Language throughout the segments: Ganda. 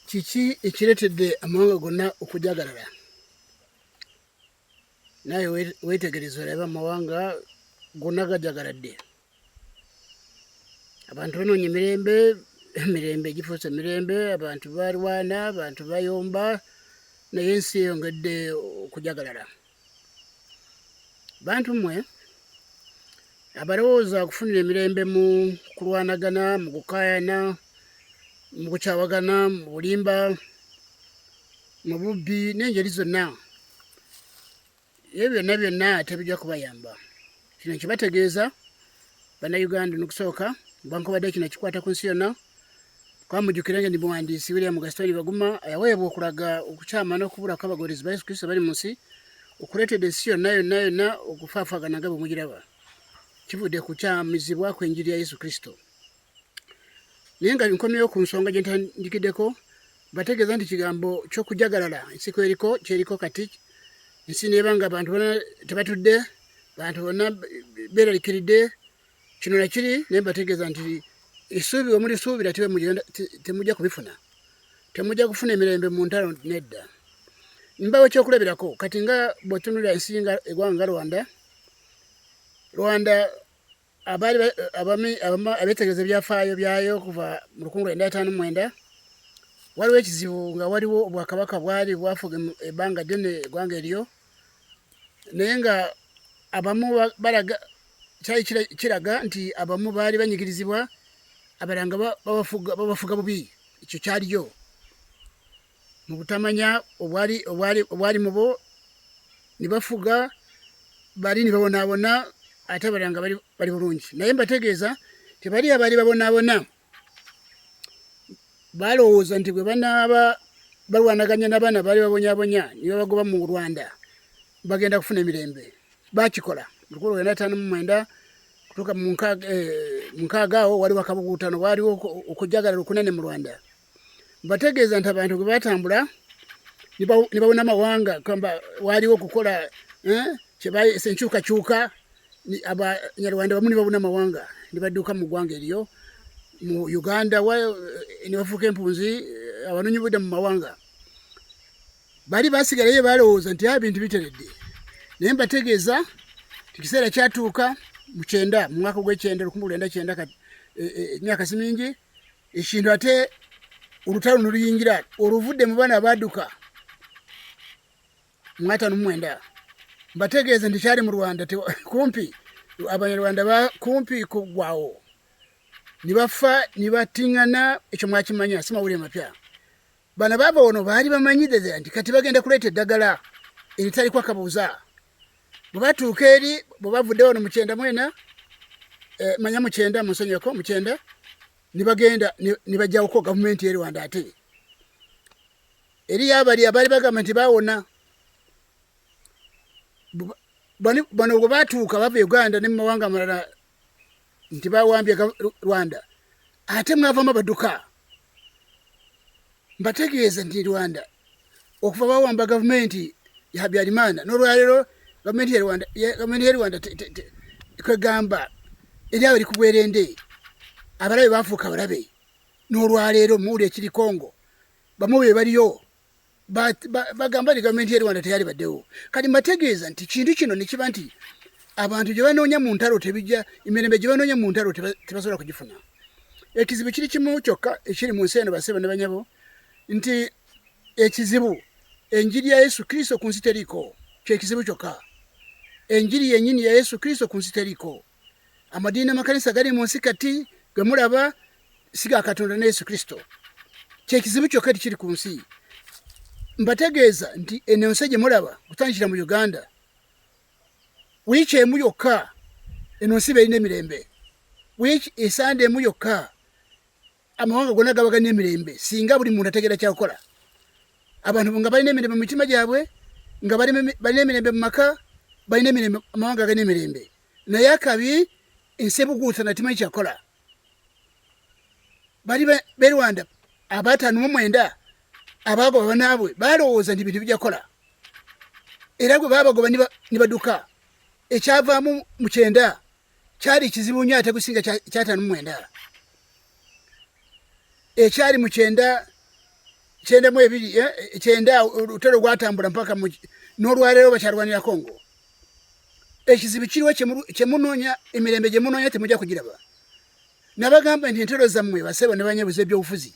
kiki ekireetedde amawanga gonna okujagalala naye weetegereza olabe amawanga gonna gajagaladde abantu banoonya emirembe emirembe gifuuse emirembe abantu balwana abantu bayomba naye ensi eyongedde okujagalala bantu mwe abalowooza okufunira emirembe mu kulwanagana mu kukayana mu kukyawagana mu bulimba mu bubbi n'engeri zonna ebyo byonna byonna tebijja kubayamba kino nkibategeeza bannayuganda nokusooka bwankubadde kino kikwata ku nsi yonna kwamujukira nga ndi muwandiisi william gastoni baguma yaweebwa okulaga okukyama n'okubula kw'abagoberezi ba yesu kristo bali mu nsi okuleetedde ensi yonna yonna yonna okufaafaagana nga bwe mugiraba kivudde ku kyamizibwa kw'enjiri ya yesu kristo naye nga nkomyewo ku nsonga gye ntandikiddeko bategeeza nti kigambo ky'okujagalala ensi kweriko kyeriko kati ensi neeba nga bantu bona tebatudde bantu bonna beeralikiridde kino nakiri naye bategeeza nti esuubi omulisuubira temujja kubifuna temujja kufuna emirembe mu ntalo nedda mbawo ekyokulabirako kati nga bwetunulira ensi nga egwanga nga rwanda rwanda abaali abeetegereza ebyafaayo byayo okuva mu lukungu lwenda ataano mwenda waliwo ekizibu nga waliwo obwakabaka bwali bwafuga ebbanga ddene eggwanga eryo naye nga abamu balaga kyali kiraga nti abamu baali banyigirizibwa abalanga babafuga bubi ekyo kyaliyo mu butamanya obwali obwali obwali mubo nibafuga bali nibabonaabona ate abalala nga bali bulungi naye mbategeeza tebali abaali babonaabona balowooza nti bwe banaaba balwanaganya n'abaana baali babonyabonya nibabagoba mu rwanda bagenda kufuna emirembe bakikola lukulu lwenda ataano mu mwenda kutuuka mu nkaaga eh, awo waliwo akabuguutano waaliwo okujagala lukunene mu rwanda mbategeeza nti abantu bwe batambula ne bawona amawanga kamba waaliwo okukola eh, kyebayesa enkyukakyuka abanyarwanda bamu ne babuna amawanga ne badduka mu ggwanga eriyo mu uganda eh, ne bafuuka empunzi eh, abanoonyi budda mu mawanga bali basigalayo balowooza nti abintu ah, biteredde naye mbategeeza ekiseera kyatuuka mu kyenda mu mwaka ogw'ekyenda lukumi lwenda kyenda emyaka si mingi ekintu ate olutalo noluyingira oluvudde mu baana baduka mwatano mumwenda mbategeeze nti kyali mu rwanda kumpi abanyarwanda bakumpi kugwawo nibafa nibatingana ekyo mwakimanya simawulire mapya bano baava wano baali bamanyidde ddala nti kati bagenda kuleeta eddagala eritaliko akabuuza bwe batuuka eri bwe bavudde wano mukyenda mwena eh, manya mukyenda munsonyeko mukyenda ne bagenda ne bajjawoko gavumenti e rwanda ate eriyo abali abaali bagamba nti bawona bano bwe batuuka bava e uganda ne mu mawanga amalala nti bawambye rwanda ate mwavamu abaduka mbategeeza nti rwanda okuva bawamba gavumenti ya habyarimana nolwalero gavumenti ya rwanda gavumenti ya rwanda kwegamba eryawo eri kubwerende abalabe bafuuka abalabe nolwaleero muwuli ekiri kongo bamu be baliyo bagamba nti gavumenti ye rwanda teyali baddewo kati mbategeeza nti kintu kino nekiba nti abantu gye banoonya mu ntalo tebijja emirembe gye banoonya mu ntalo tebasobola kugifuna ekizibu kiri kimu kyokka ekiri mu nsi eno basebo ne banyabo nti ekizibu enjiri ya yesu kristo ku nsi teriiko kyekizibu kyokka enjiri yenyini ya yesu kristo ku nsi teriiko amadiini amakanisa gali mu nsi kati ge mulaba si ga katonda ne yesu kristo kyekizibu kyokka ti kiri ku nsi mbategeeza nti eno ensi gye mulaba kutandikira mu uganda wiiki emu yokka eno nsi beerina emirembe wiiki esande emu yokka amawanga gona gaba galina emirembe singa buli muntu ategeera kyakukola abantu nga balina emirembe mu mitima gyabwe nga balina emirembe mu maka balina emirembe amawanga galina emirembe naye akabi ensi ebuguusa natimanyi kyakukola bali be rwanda abatano mu mwenda abaagoba banaabwe balowooza nti bintu bijakola era gwe baabagoba nibaduka ekyavaamu mukyenda kyali kizibu nnyo ate kusinga kyataano mu mwenda ekyali mu kyenda kyenda mu ebiri eh, kyenda olutalo gwatambula mpaka n'olwaleero bakyalwanira kongo ekizibu kiriwo kyemunoonya emirembe gye munoonya temujja kugiraba nabagamba nti entero zammwe basebo ne banyebuza ebyobufuzi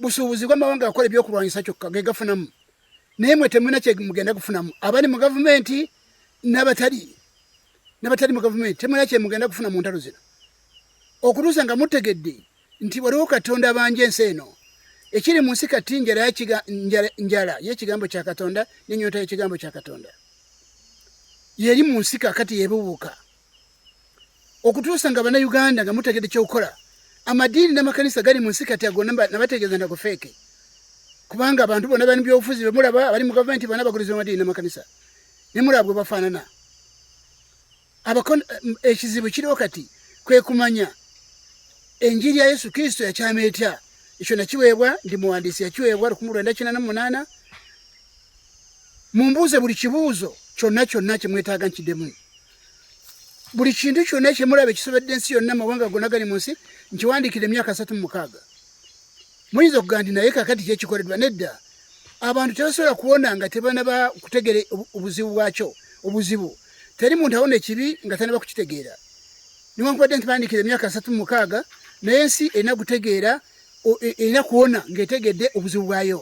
busuubuzi bw'amawanga akola ebyokulwanyisa kyokka ge gafunamu naye mwe temulina kyemugenda kufunamu abali mu gavumenti nabatali nabatali mu gavumenti temulina kyemugenda kufuna mu ntalo zino okutuusa nga mutegedde nti waliwo katonda abanja ensi eno ekiri mu nsi kati njala yekigambo kya katonda nenyota yekigambo kya katonda yeri mu nsi kakati yebubuuka okutuusa nga bannayuganda nga mutegede kyokukola amadiini n'amakanisa gali mu nsi kati ago nabategeeza nago feeke kubanga abantu bona bali mubyobufuzi bemulaba abali mu gavumenti bona baguliza amadiini n'amakanisa nemulaba bwe bafaanana ekizibu kiriwo kati kwe kumanya enjiri ya yesu kristo yakyama etya ekyo nakiweebwa ndi muwandiisi yakiweebwa lukumu lwenda kina na munaana mumbuuze buli kibuuzo kyonna kyonna kyemwetaaga nkiddemu buli kintu kyonna kyemulaba ekisobedde ensi yonna mawanga gonna gali mu nsi nkiwandiikira emyaka asatu mumukaaga muyinza okuga nti naye kakati kyekikoledwa nedda abantu tebasobola kuwona nga tebanaba kutegere obuzibu bwakyo obuzibu teri muntu awona ekibi nga tanaba kukitegeera niwankubadde nti bandiikira emyaka asatu mumukaaga naye ensi erina kutegeera e, erina kuwona ngaetegedde obuzibu bwayo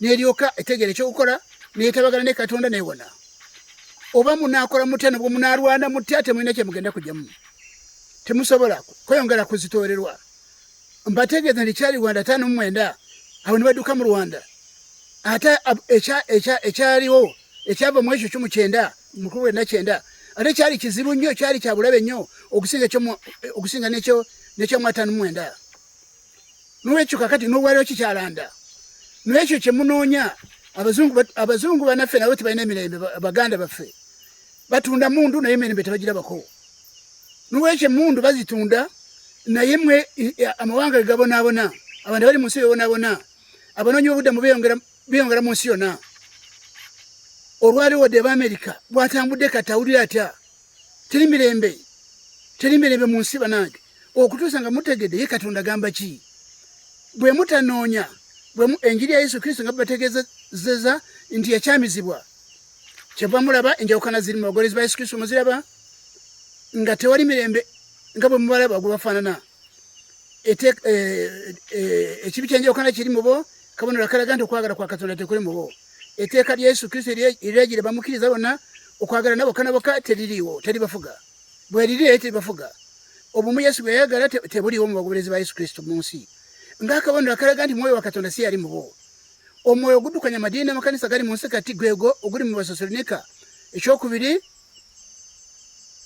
n'eryoka etegeera ekyokukola neyetabagana ne katonda newona oba munakola mutya nobwo munalwana mutya temulina kyemugenda kujamu temusobola kweyongera kuzitoorerwa mbategeeza nti kyali rwanda tano mumwenda abo nibaduka mu rwanda ate ekyaliwo ekyava mu ekyo kyomu kyenda mukulu wena kyenda ate kyali kizibu nnyo kyali kyabulabe nnyo okusinga nekyomwatano mumwenda nolwekyo kakati nowaliro kikyalanda nolwekyo kyemunoonya abazungu banaffe nabo tebalina emirembe baganda baffe batunda mundu naye emirembe tebagirabako nolwekyo emundu bazitunda naye mwe amawanga gegabonaabona abantu bali munsi bebonaabona abanoonyi bobuddamu beyongera munsi yona olwaliwo de ba amerika bwatambudde kati awulire atya teri mirembe teri mirembe mu nsi banange okutuusa nga mutegedde ye katonda gamba ki bwe mutanoonya enjiri ya yesu kristo nga bategezeza nti yakyamizibwa kyeva mulaba enjawukana ziri mu bagolezi ba yesu kristo muziraba nga tewali mirembe nga bwe mubalaba gwe bafaanana e, e, ekibi kyenjawukana kiri mubo kabonero akalaga nti okwagala kwa katonda tekuli mubo eteeka lya yesu kristo eriragira bamukkiriza bonna okwagala nabo kana boka teririwo teri bafuga bweriri naye teri bafuga obumu yesu bweyayagala tebuliwo mu bagoberezi ba yesu kristo mu nsi ngaakabonero akalaga nti mwoyo wa katonda si yali mubo omwoyo ogudukanya amadiini n'amakanisa gali mu nsi kati gwego oguli mu basosolonika ekyokubiri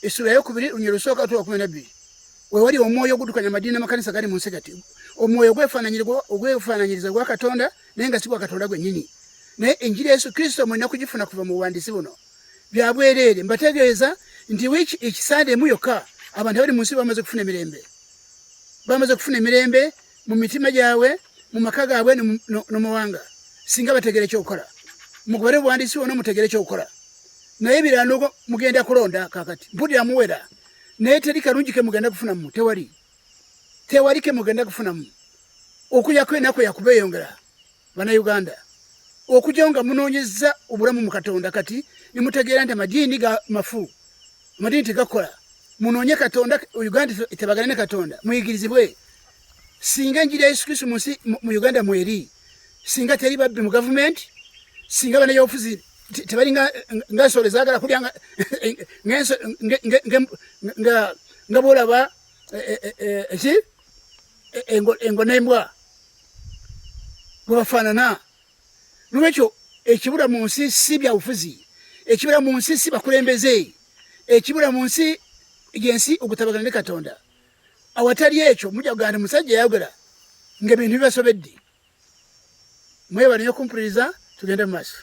essula yokubiri lunyero lusooka tuwa kumi nabbiri wewali omwoyo ogudukanya amadiini amakanisa gali mu nsi kati omwoyo ogwefaananyiriza gwa katonda naye nga si gwa katonda gwennyini naye enjiri yesu kristo mulina kugifuna kuva mu buwandiisi buno byabwereere mbategeeza nti wiki ekisande emu yokka abantu abali mu nsi bamaze okufuna emirembe bamaze okufuna emirembe mu mitima gyabwe mu maka gaabwe nomawanga singa bategera ekyokukola mugobere obuwandiisi wona mutegere ekyokukola naye birano mugenda kulonda kakati mpulira muwera naye teri kalungi kemugenda kufunamu tewali tewali kemugenda kufunamu okuyako enaku yakubeeyongera banauganda okujao nga munonyeza obulamu mu katonda kati nemutegeera nti amadiini ga mafu amadiini tegakola munonye katonda uganda tebagane ne katonda muyigirizibwe singa enjiri ya yesu kristu munsi mu uganda mweri singa teri babbi mu gavumenti singa banayobufuzi tebali nga nsolo ezagala kulya nga bwolaba eh, eh, eh, ki engo nembwa gwe bafaanana nolwekyo ekibula mu nsi si byabufuzi ekibula mu nsi si bakulembeze ekibula mu nsi yensi okutabagana ne katonda awatali ekyo mujja kugamba nti musajja yayogera ngaebintu bibasobedde mwebale nyo kumpuliriza tugende mu maaso